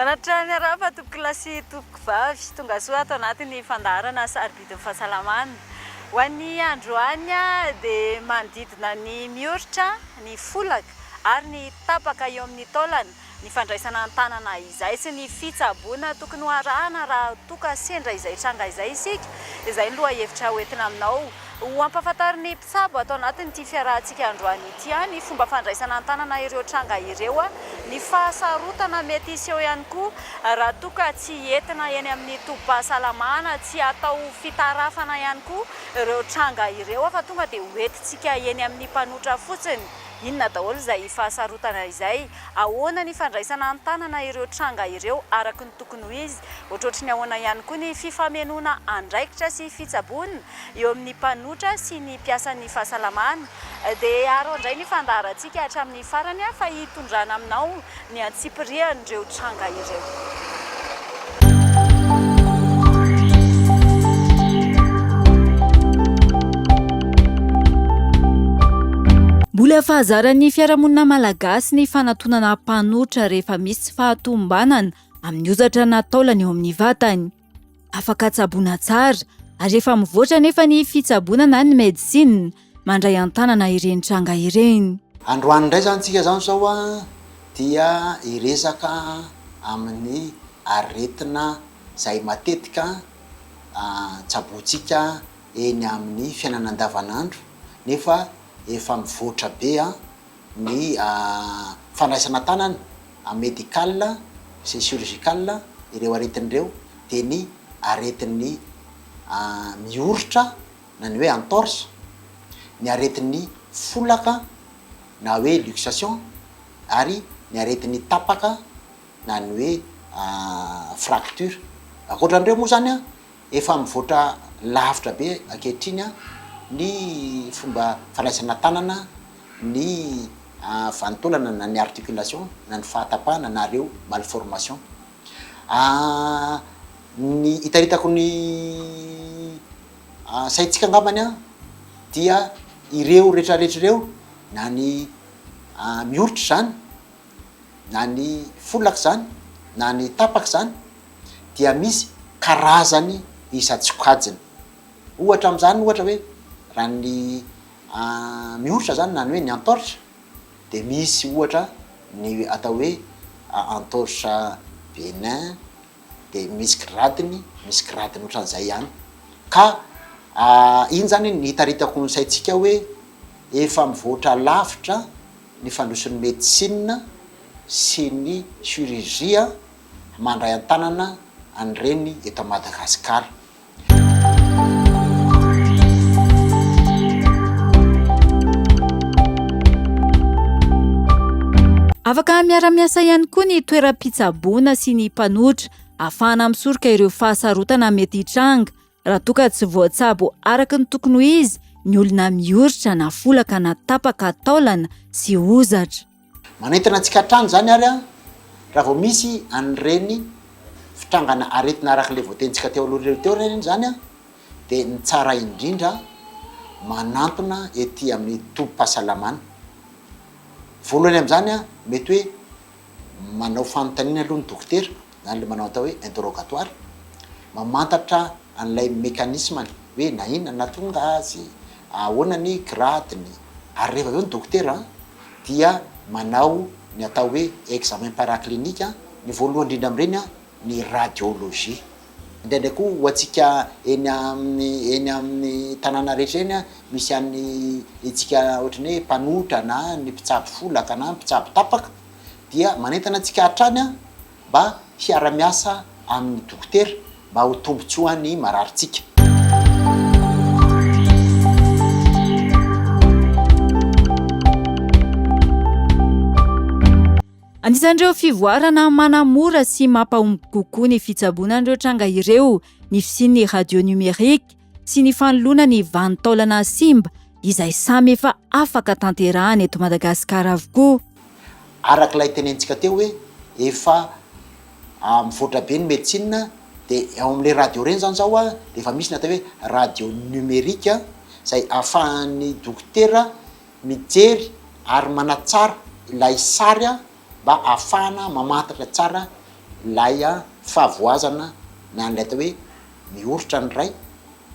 Manatitra ny harapa tompoko lahy sy tompoko vavy. Tongasoa ato anatin'ny fandaharana Sarobidin'ny fahasalamana. Ho an'ny androany dia manodidina ny mioritra, ny folaka ary ny tapaka eo amin'ny taolana ny fandraisana an-tanana izay sy ny fitsaboana tokony ho arahana raha toa ka sendra izay tranga izay isika. Izay ny lohahevitra ho entina aminao. Ho ampahafantarin'ny mpitsabo ato anatin'ity fiarahantsika androany ity ihany fomba fandraisana an-tanana ireo tranga ireo, ny fahasarotana mety hiseho ihany koa raha toa ka tsy entina eny amin'ny tobim-pahasalamana, tsy atao fitarafana ihany koa ireo tranga ireo fa tonga dia hoentintsika eny amin'ny mpanotra fotsiny. Inona daholo izay fahasarotana izay? Ahoana ny fandraisana an-tanana ireo tranga ireo araka ny tokony ho izy? Ohatrohatry ny ahoana ihany koa ny fifamenoana andraikitra sy fitsaboana eo amin'ny mpanotra sy ny mpiasan'ny fahasalamana? Dia haro handray ny fandaharantsika hatramin'ny farany aho fa hitondrana aminao ny antsipirihan'ireo tranga ireo. Mbola fahazaran'ny fiarahamonina malagasy ny fanatonana mpanolotra rehefa misy tsy fahatomombanana amin'ny hozatra na taolana eo amin'ny vatany. Afaka tsaboina tsara ary efa mivoatra anefa ny fitsaboana na ny medicine mandray an-tanana ireny tranga ireny. Androany indray izany tsika izany izao dia hiresaka amin'ny aretina izay matetika tsabointsika eny amin'ny fiainana andavanandro nefa efa mivoatra be ny fandraisana an-tanana amin'ny médical sy ny chirurgical ireo aretiny ireo dia ny aretin'ny mioritra na ny hoe entorse, ny aretin'ny folaka na hoe luxation ary ny aretin'ny tapaka na ny hoe fracture. Ankoatra an'ireo moa izany Efa mivoatra lavitra be ankehitriny ny fomba fandraisana tanana ny vantaolana na ny articulation na ny fahatapahana na ireo malformation. Ny hitaritako ny saintsika angambany dia ireo rehetrarehetra ireo na ny mihoritry izany, na ny folaka izany na ny tapaka izany dia misy karazany isan-tsokajiny. Ohatra amin'izany ohatra hoe raha ny mioritra izany na ny hoe ny antaoritra dia misy ohatra ny atao hoe antaoritra Bénin dia misy gradiny, misy gradiny ohatran'izay ihany ka iny izany no hitaritako ny saintsika hoe efa mivoatra lavitra. ny fandrosoan'ny medisina sy ny chirurgie mandray an-tanana an'ireny eto Madagasikara. Afaka miara-miasa ihany koa ny toeram-pitsaboana sy ny mpanotra, ahafahana misoroka ireo fahasarotana mety hitranga Raha toa ka tsy voatsabo araka ny tokony ho izy ny olona mioritra na folaka na tapaka taolana sy hozatra. Manentana antsika hatrany izany ary an, raha vao misy an'ireny fitrangana aretina araka ilay voatenintsika teo aloha ireny teo ireny izany an, dia ny tsara indrindra manantona ety amin'ny tobim-pahasalamana. Voalohany amin'izany an, mety hoe. manao fanontaniana aloha ny dokotera, izany ilay manao atao hoe interrogatoire, mamantatra an'ilay mécanisme-ny hoe na inona no nahatonga azy, ahoana ny grade-ny, ary rehefa avy eo ny dokotera dia manao ny atao hoe examen paraclinique, ny voalohany indrindra amin'ireny ny radiologie. Indraindray koa ho antsika eny amin'ny eny amin'ny tanàna rehetra eny a, misy an'ny antsika ohatran'ny hoe mpanohitra na ny mpitsabo folaka na ny mpitsabo tapaka dia manentana antsika hatrany mba hiara-miasa amin'ny dokotera mba ho tombontsoa ny mararintsika. Anisan'ireo fivoarana manamora sy mampahomby kokoa ny fitsaboana an'ireo tranga ireo ny fisian'ny radio nomerika sy ny fanoloana ny vanin-taolana simba izay samy efa afaka tanterahana eto Madagasikara avokoa. Araka ilay tenentsika teo hoe efa mivoatra be ny medecine dia ao amin'ilay radio ireny izany izao dia efa misy ny atao hoe radio nomerika izay ahafahan'ny dokotera Mijery ary manatsara ilay sary mba ahafahana mamantatra tsara ilay fahavoazana na ilay atao hoe mihoritra ny ray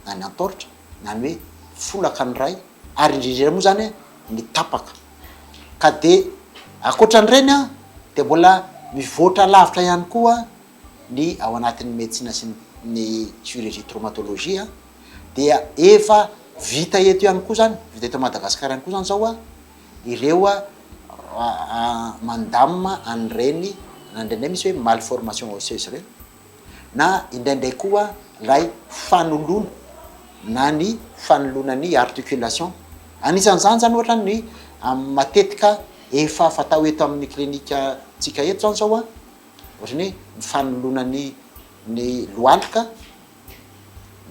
na ny antaoritra na ny hoe folaka ny ray ary indrindra indrindra moa izany ny tapaka. Ka dia ankoatra an'ireny dia mbola mivoatra lavitra ihany koa ny ao anatin'ny medecina sy ny chirurgie traumatologie dia efa vita eto ihany koa zany, vita eto Madagasikara ihany koa zany zao ireo mandamina an'ireny na indraindray misy hoe malformation osseuse ireny na indraindray koa ilay fanoloana na ny fanoloana ny articulation, anisan'izany zany ohatra ny matetika efa fatao eto amin'ny clinique-ntsika eto zany zao Ohatrany hoe ny fanoloana ny ny lohalika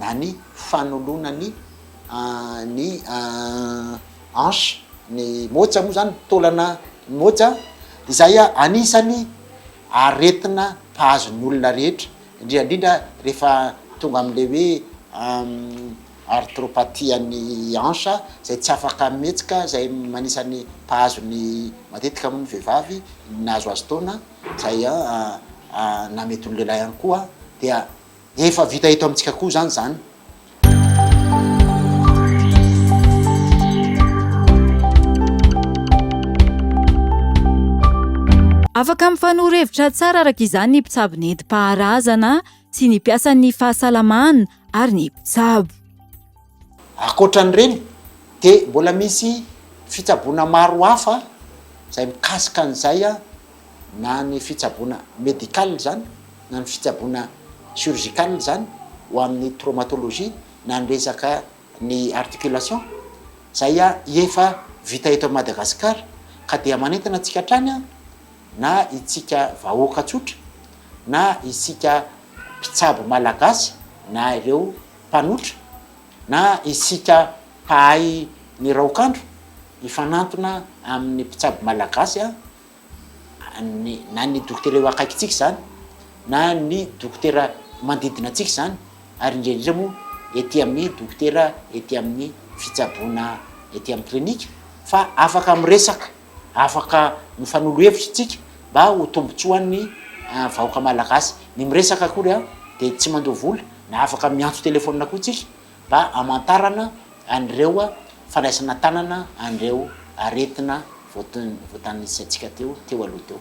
na ny fanoloana ny ny hanche ny moja moa zany, ny taolana ny moja, izay anisany aretina mpahazo ny olona rehetra, indrindra indrindra rehefa tonga am'le hoe Arthropathie ny hanche izay tsy afaka mihetsika izay manisa ny mpahazo ny matetika moa ny vehivavy nahazoazo taona izay na mety ny lehilahy ihany koa dia efa vita eto amintsika koa izany izany. Afaka mifanoro hevitra tsara araka izany ny mpitsabo nentim-paharazana sy ny mpiasan'ny fahasalamana ary ny mpitsabo. Ankoatra an'ireny dia mbola misy fitsaboana maro hafa izay mikasika an'izay na ny fitsaboana médical izany na ny fitsaboana chirurgical izany ho amin'ny traumatologie na ny resaka ny articulation izay efa vita eto Madagasikara ka dia manentana antsika hatrany na itsika vahoaka tsotra, na isika mpitsabo malagasy, na ireo mpanotra, na isika mpahay ny raokandro, hifanantona amin'ny mpitsabo malagasy, na ny dokotera eo akaikintsika izany, na ny dokotera manodidina antsika izany, ary indrindra indrindra moa ety amin'ny dokotera ety amin'ny fitsaboana ety amin'ny klinika fa afaka miresaka. Afaka mifanolo hevitra isika mba ho tombotsoan'ny vahoaka malagasy. Ny miresaka akory an, dia tsy mandoa vola, na afaka miantso telefaonina koa isika mba hamantarana an'ireo fandraisana tanana an'ireo aretina voatanisantsika teo teo aloha teo.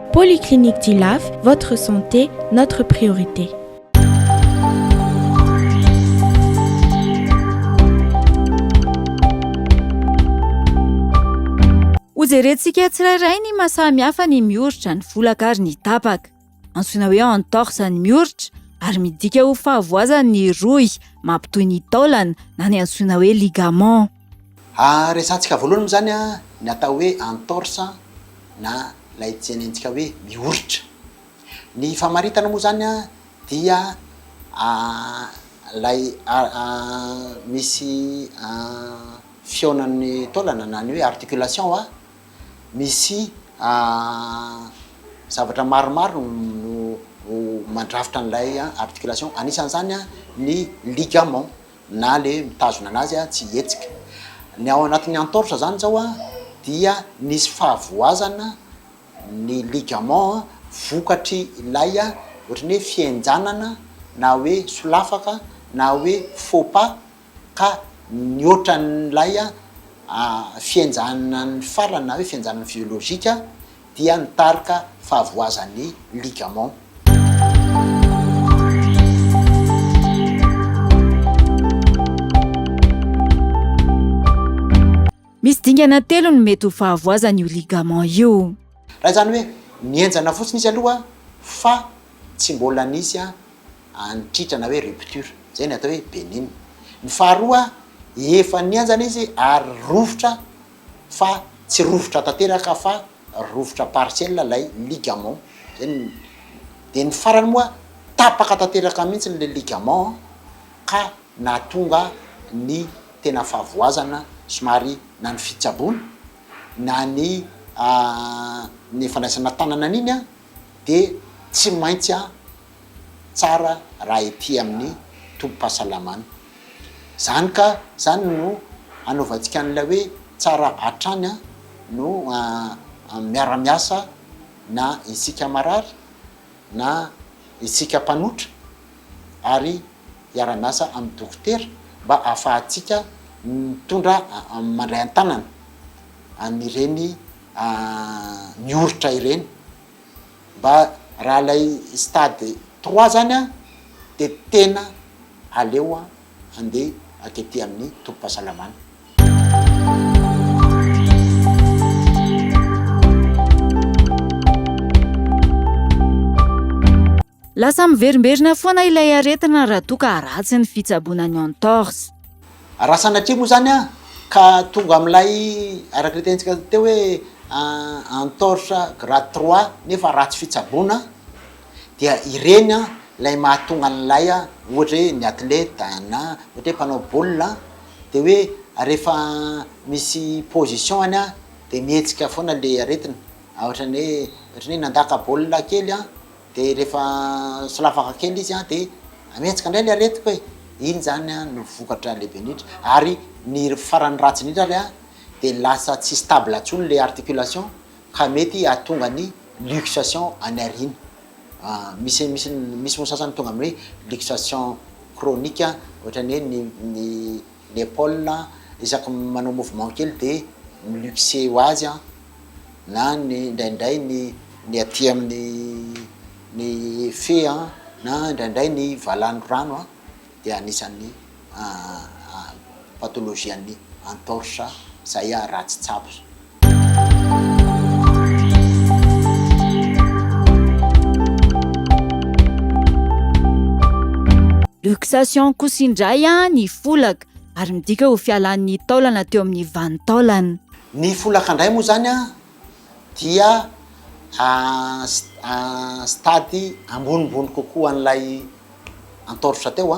Polyclinique du Laf, votre santé, notre priorité. Hojerentsika tsirairay ny maha samy hafa ny mioritra, ny volaka ary ny tapaka. Antsoina hoe entorse ny mioritra ary midika ho fahavoazan'ny rohy mampitohy ny taolana na ny antsoina hoe ligament. Resahantsika voalohany moa izany ny atao hoe entorse na ilay tenenintsika hoe mioritra. Ny famaritana moa izany dia ilay misy fihaonan'ny taolana na ny hoe articulation a, misy zavatra maromaro no mandrafitra an'ilay articulation, anisan'izany ny ligament. na le mitazona anazy tsy hihetsika. Ny ao anatin'ny entorse zany zao dia nisy fahavoazana ny ligament vokatry ilay ohatran'ny hoe fihenjanana na hoe solafaka na hoe faux pas ka nihoatra an'ilay fihenjanan'ny farany na hoe fihenjanan'ny physiologika dia ny tarika fahavoazan'ny ligament. Misy dingana telo no mety ho fahavoazan'io ligament io. Raha izany hoe mihenjana fotsiny izy aloha fa tsy mbola nisy antritra na hoe rupture, izay no atao hoe benigne. Ny faharoa, efa nihenjana izy ary rovitra fa tsy rovitra tanteraka fa rovitra partiel ilay ligament zay no dia ny farany moa tapaka tanteraka mihitsy ilay ligament ka nahatonga ny tena fahavoazana somary na ny fitsaboana na ny ny fandraisana tanana an'iny dia tsy maintsy tsara raha ety amin'ny tobim-pahasalamana. Izany ka izany no hanaovantsika an'ilay hoe tsara hatrany no miara-miasa na isika marary na isika mpanotra ary hiara-miasa amin'ny dokotera mba hahafahantsika mitondra mandray an-tanana an'ireny mioritra ireny. Mba raha ilay stade trois zany an de tena aleo an andeha atety amin'ny tobim-pahasalamana. Lasa miverimberina foana ilay aretina raha toa ka ratsy ny fitsaboana ny entorse. Raha sanatria moa izany ka tonga amin'ilay araka ny tenintsika teo hoe entorse grade trois nefa ratsy fitsaboana dia ireny ilay mahatonga an'ilay ohatra hoe ny athlète na ohatra hoe mpanao baolina dia hoe rehefa misy position-ny dia mihetsika foana ilay aretina, ohatra ny hoe ohatra ny hoe nandaka baolina kely. dia rehefa solafaka kely izy an dia amihetsika indray ny aretiko e, iny zany an no vokatra lehibe indrindra, ary ny farany ratsy indrindra ary an dia lasa tsy stable intsony le articulation ka mety hahatonga ny luxation any aoriana, misy misy misy moa sasany tonga amin'ny hoe luxation chronique ohatran'ny hoe ny ny. Le Paul a isaky ny manao mouvement kely de mi-luxer ho azy an, na ny indraindray ny ny aty amin'ny ny fe an, na indraindray ny valano rano an, dia anisan'ny pathologie an'ny entorse, zay a raha tsy tsapa. Luxation kosa indray ny folaka ary midika ho fialan'ny taolana teo amin'ny vanin-taolana. Ny folaka indray moa izany dia stade ambonimbony kokoa an'ilay antaoritra teo.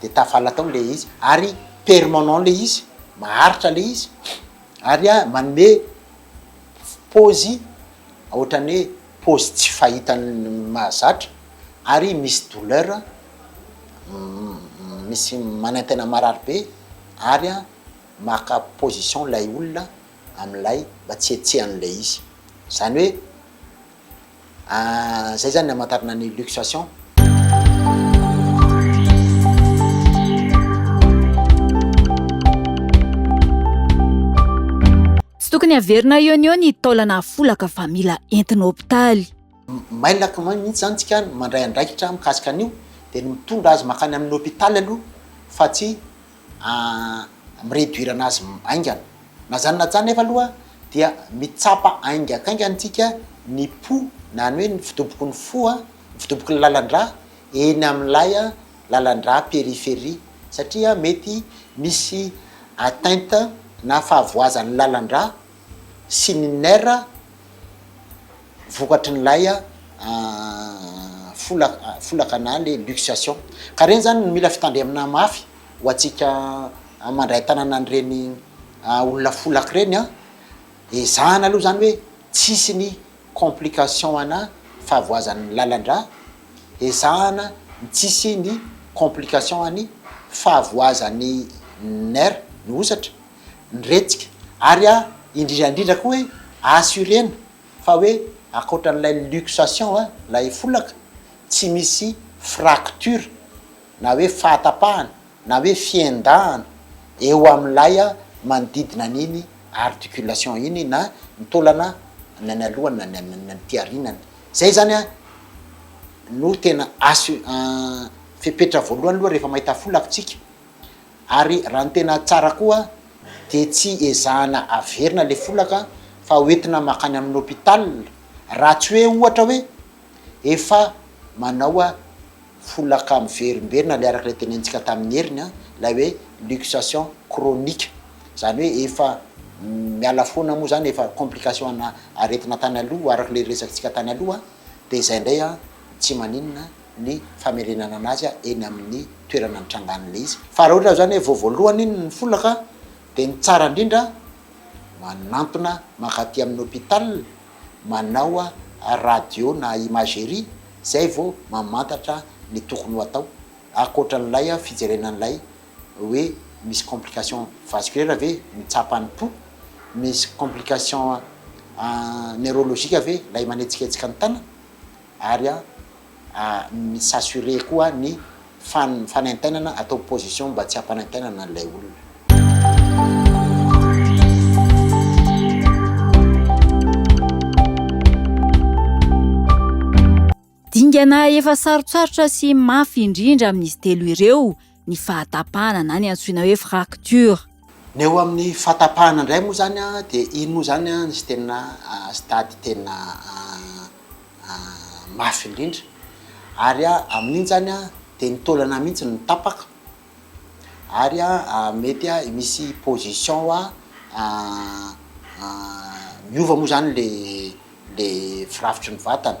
de tafala tao le izy ary permanent le izy maharitra le izy ary a manome pôzy ohatran'ny hoe pôzy tsy fahitan'ny mahazatra ary misy douleur misy manentena marary be ary a maka position lay olona am'lay mba tsy hetsehan'lay izy zany hoe Ah zay zany ny hamantarana ny luxation. Tsy tokony haverina eo no eo ny taolana afolaka fa mila entina hopitaly. Mailaka mihitsy zany tsika mandray andraikitra mikasika an'io de ny mitondra azy makany amin'ny hopitaly aloha fa tsy amin'ny réduire-na azy haingana. Na zany na zany nefa aloha dia mitsapa haingakaingana antsika ny po na ny hoe ny fidoboky ny fo, ny fidoboky ny lalan-drà eny amin'ilay lalan-drà périphérie satria mety misy atteinte na fahavoazan'ny lalan-drà sy ny nerfs. vokatry ny lay folaka folaka na le luxation ka reny zany no mila fitandremana mafy ho antsika mandray tanana an'ireny olona folaka ireny an, ezahana aloha zany hoe tsy hisy ny complication ana fahavoazan'ny lalandrà, ezahana ny tsy hisy ny complication any fahavoazan'ny nerf ny hosatra, ny retsika ary indrindra indrindra koa hoe assurena Fa hoe akoatran'ilay luxation a, ilay folaka, tsy misy fracture na hoe fahatapahana na hoe fiendahana eo amin'ilay manodidina an'iny articulation iny na ny taolana na ny alohany na ny na ny aty arinany. Zay zany a no tena assu fepetra voalohany aloha rehefa mahita folaka tsika Ary raha ny tena tsara koa dia tsy ezahana averina ilay folaka fa hoentina makany amin'ny hôpital raha tsy hoe ohatra hoe efa manao folaka miverimberina ilay araka ilay tenenintsika tamin'i Heriny an, ilay hoe luxation chronique, izany hoe efa miala foana moa izany efa complication ana aretina tany aloha araka ilay resakintsika tany aloha dia izay indray an, tsy maninona. ny famerenana anazy eny amin'ny toerana nitrangan'ilay izy fa raha ohatra zany hoe vao voalohany iny ny folaka de ny tsara indrindra manantona mankaty amin'ny hôpital manao radio na imagerie zay vao mamantatra ny tokony ho atao ankoatra an'ilay fijerena an'ilay hoe misy complication vasculaire ve ny tsapan'ny po, misy complication neurologique ve ilay manetsiketsika ny tanana. ary a mi s'assurer koa ny fan fanaintainana atao position mba tsy hampanaintainana an'ilay olona. Dingana efa sarotsarotra sy mafy indrindra amin'izy telo ireo. ny fahatapahana na ny antsoina hoe fracture. Ny eo amin'ny fahatapahana indray moa izany dia iny moa izany ny tena stade tena mafy indrindra ary amin'iny izany dia ny taolana mihitsy no tapaka ary mety misy position miova moa izany ilay ilay firafitry ny vatana.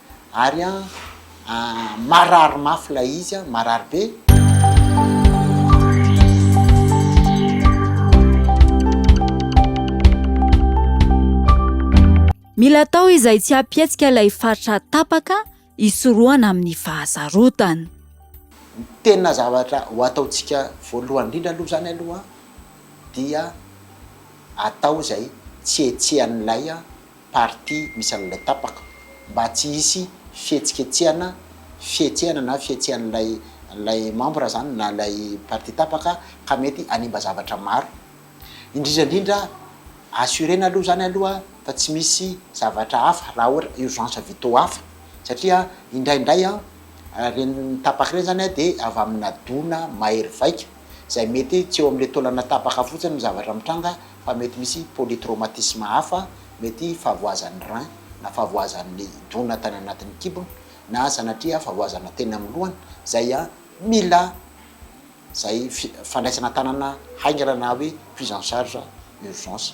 Ary an, marary mafy ilay izy an, marary be. Mila atao izay tsy hampihetsika ilay faritra tapaka hisorohana amin'ny fahasarotana. Ny tena zavatra ho ataontsika voalohany indrindra aloha izany aloha dia atao izay tsy hihetsehan'ilay. partie misy an'ilay tapaka mba tsy hisy fihetsiketsehana, fihetsehana na fihetsehan'ilay ilay membre zany na ilay partie tapaka ka mety hanimba zavatra maro. Indrindra indrindra assurer-na aloha zany aloha fa tsy misy zavatra hafa raha ohatra urgence vitaux hafa satria indraindray an, ireny tapaka ireny zany an dia avy amina dona mahery vaika izay mety tsy eo amin'ilay taolana tapaka fotsiny ny zavatra mitranga fa mety misy polytraumatisme hafa, mety fahavoazan'ny rein, na fahavoazan'ny dona tany anatin'ny kibony, na sanatria fahavoazana teny amin'ny lohany, izay mila izay fandraisana an-tanana haingana na hoe prise en charge urgence.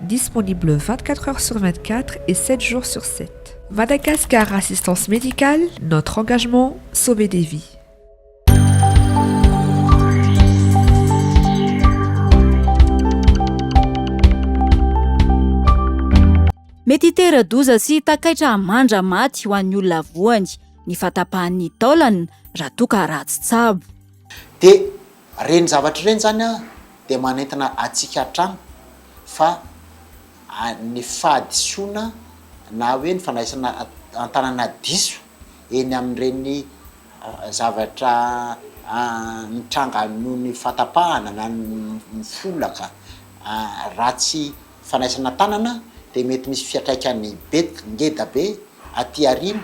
Disponible vingt quatre heures sur vingt quatre et sept jours sur sept. Madagascar Assistance Médicale, notre engagement, sauver des vies. Mety hitera-doza sy takaitra hamandra maty ho an'ny olona voany ny fahatapahan'ny taolana raha toa ka ratsy tsabo. Dia Ireny zavatra ireny izany dia manentana antsika hatrany fa ny fahadisoana na hoe ny fandraisana an-tanana diso eny amin'ireny zavatra mitranga noho ny fahatapahana na ny folaka ratsy fanaisana tanana dia mety misy fiatraikany bet ngeda be aty aoriana.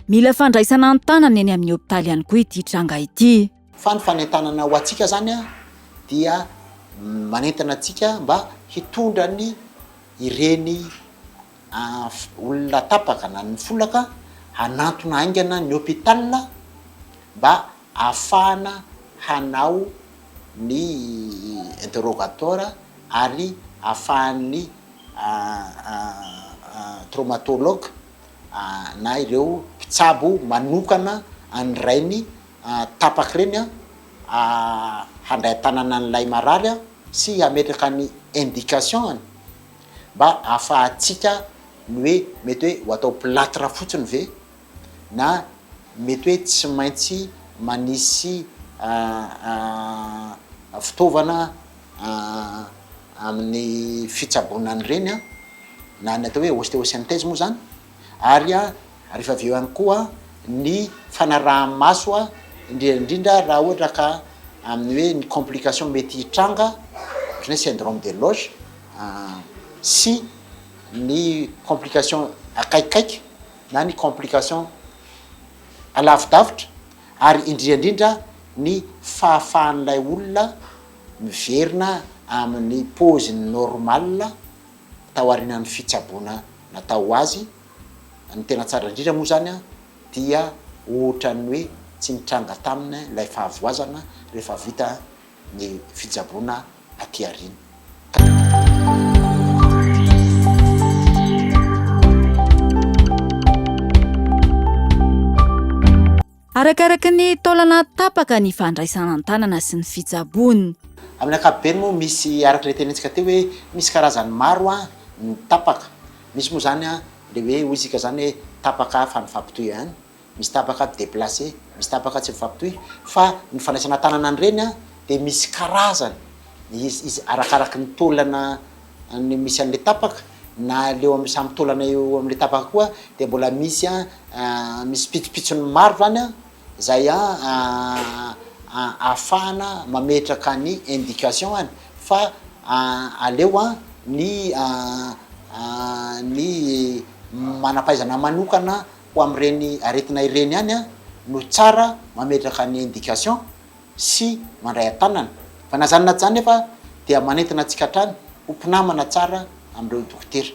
Mila fandraisana an-tanana eny amin'ny hopitaly ihany koa ity tranga ity. Fa ny fanentanana ho antsika izany dia manentana antsika mba hitondra ny ireny olona tapaka na ny folaka hanantona haingana ny hôpital mba ahafahana hanao ny interrogatoire ary ahafahan'ny traumatologue na ireo mpitsabo manokana an'ny rainy tapaka ireny handray an-tanana an'ilay marary sy hametraka ny indication-ny mba ahafahantsika ny hoe mety hoe ho atao platre fotsiny ve na mety hoe tsy maintsy manisy fitaovana amin'ny fitsaboana an'ireny na ny atao hoe osteosynthèse moa izany ary ary efa avy eo ihany koa ny fanaraha-maso indrindra indrindra raha ohatra ka amin'ny hoe ny complication mety hitranga ohatran'ny hoe syndrome de loge sy ny complication akaikikaiky na ny complication alavidavitra ary indrindra indrindra ny fahafahan'ilay olona miverina amin'ny paoziny normale tao aorianan'ny fitsaboana natao ho azy Ny tena tsara indrindra moa izany dia ohatran'ny hoe tsy nitranga taminy ilay fahavoazana rehefa vita ny fitsaboana aty aoriana. Arakaraka ny taolana tapaka ny fandraisana an-tanana sy ny fitsaboana. Amin'ny ankapobeny moa misy araka ilay tenentsika teo hoe misy karazany maro ny tapaka. Misy moa izany ilay hoe hoy isika izany hoe tapaka fa nifampitohy ihany, misy tapaka deplace, misy tapaka tsy mifampitohy fa ny fandraisana an-tanana an'ireny dia misy karazany izy arakaraka ny taolana ny misy an'ilay tapaka na leo amin'ny samy taolana eo amin'ilay tapaka koa dia mbola misy a misy pitsopitsony maro zany a zay a ahafahana mametraka ny indication any fa aleo a ny ny manam-pahaizana manokana ho amin'ireny aretina ireny ihany a no tsara mametraka ny indication. sy mandray an-tanana fa na zany na zany nefa dia manentana antsika hatrany ho mpinamana tsara amin'ireo dokotera.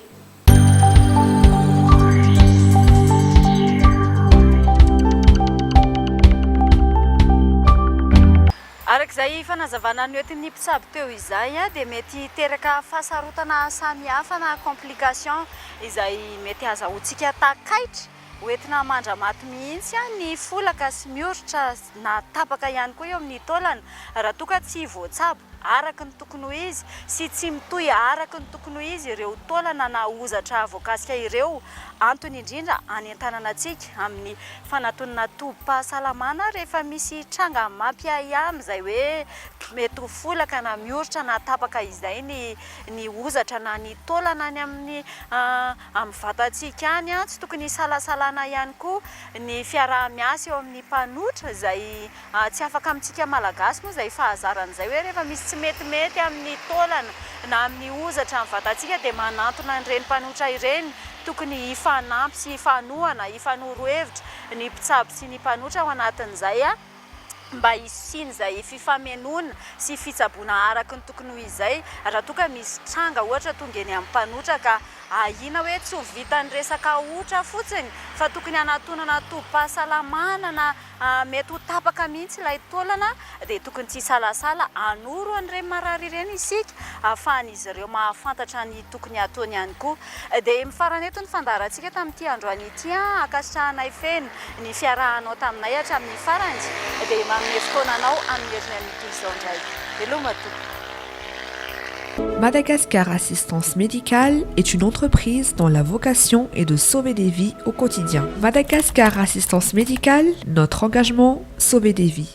Araka izay fanazavana noentin'ny mpitsabo teo izay dia mety hiteraka fahasarotana samihafa na complications izay mety hazahoantsika takaitra Ho entina mandra-maty mihitsy ny folaka sy mioritra na tapaka ihany koa eo amin'ny taolana raha toa ka tsy voatsabo araka ny tokony ho izy sy tsy mitohy araka ny tokony ho izy ireo taolana na hozatra voakasika ireo. Antony indrindra anentanana antsika amin'ny fanatonana tobim-pahasalamana rehefa misy tranga mampiahiahy amin'izay hoe mety ho folaka na mioritra na tapaka izay ny ny hozatra na ny taolana any amin'ny amin'ny vatantsika any, tsy tokony hisalasalana ihany koa ny fiaraha-miasa eo amin'ny mpanotra izay tsy afaka amintsika Malagasy moa izay fahazarana izay hoe rehefa misy tsy metimety amin'ny taolana na amin'ny hozatra ny vatantsika dia manantona an'ireny mpanotra ireny, tokony hifanampy sy hifanohana, hifanoro hevitra ny mpitsabo sy ny mpanotra ao anatin'izay. mba hisian'izay fifamenoana sy fitsaboana araka ny tokony ho izay raha toa ka misy tranga ohatra tonga eny amin'ny mpanotra ka ahiana hoe tsy ho vitan'ny resaka otra fotsiny fa tokony hanatonana tobim-pahasalamana na mety ho tapaka mihitsy ilay taolana dia tokony tsy hisalasala hanoro an'ireny marary ireny isika ahafahan'izy ireo mahafantatra ny tokony hataony ihany koa Dia mifarana eto ny fandaharantsika tamin'ity androany ity an! Ankasitrahanay feno ny fiarahanao taminay hatramin'ny farany, dia manome fotoana anao amin'ny heriny amin'ity izao indray. Veloma tompoko. Madagascar Assistance Médicale est une entreprise dont la vocation est de sauver des vies au quotidien. Madagascar Assistance Médicale, notre engagement, sauver des vies.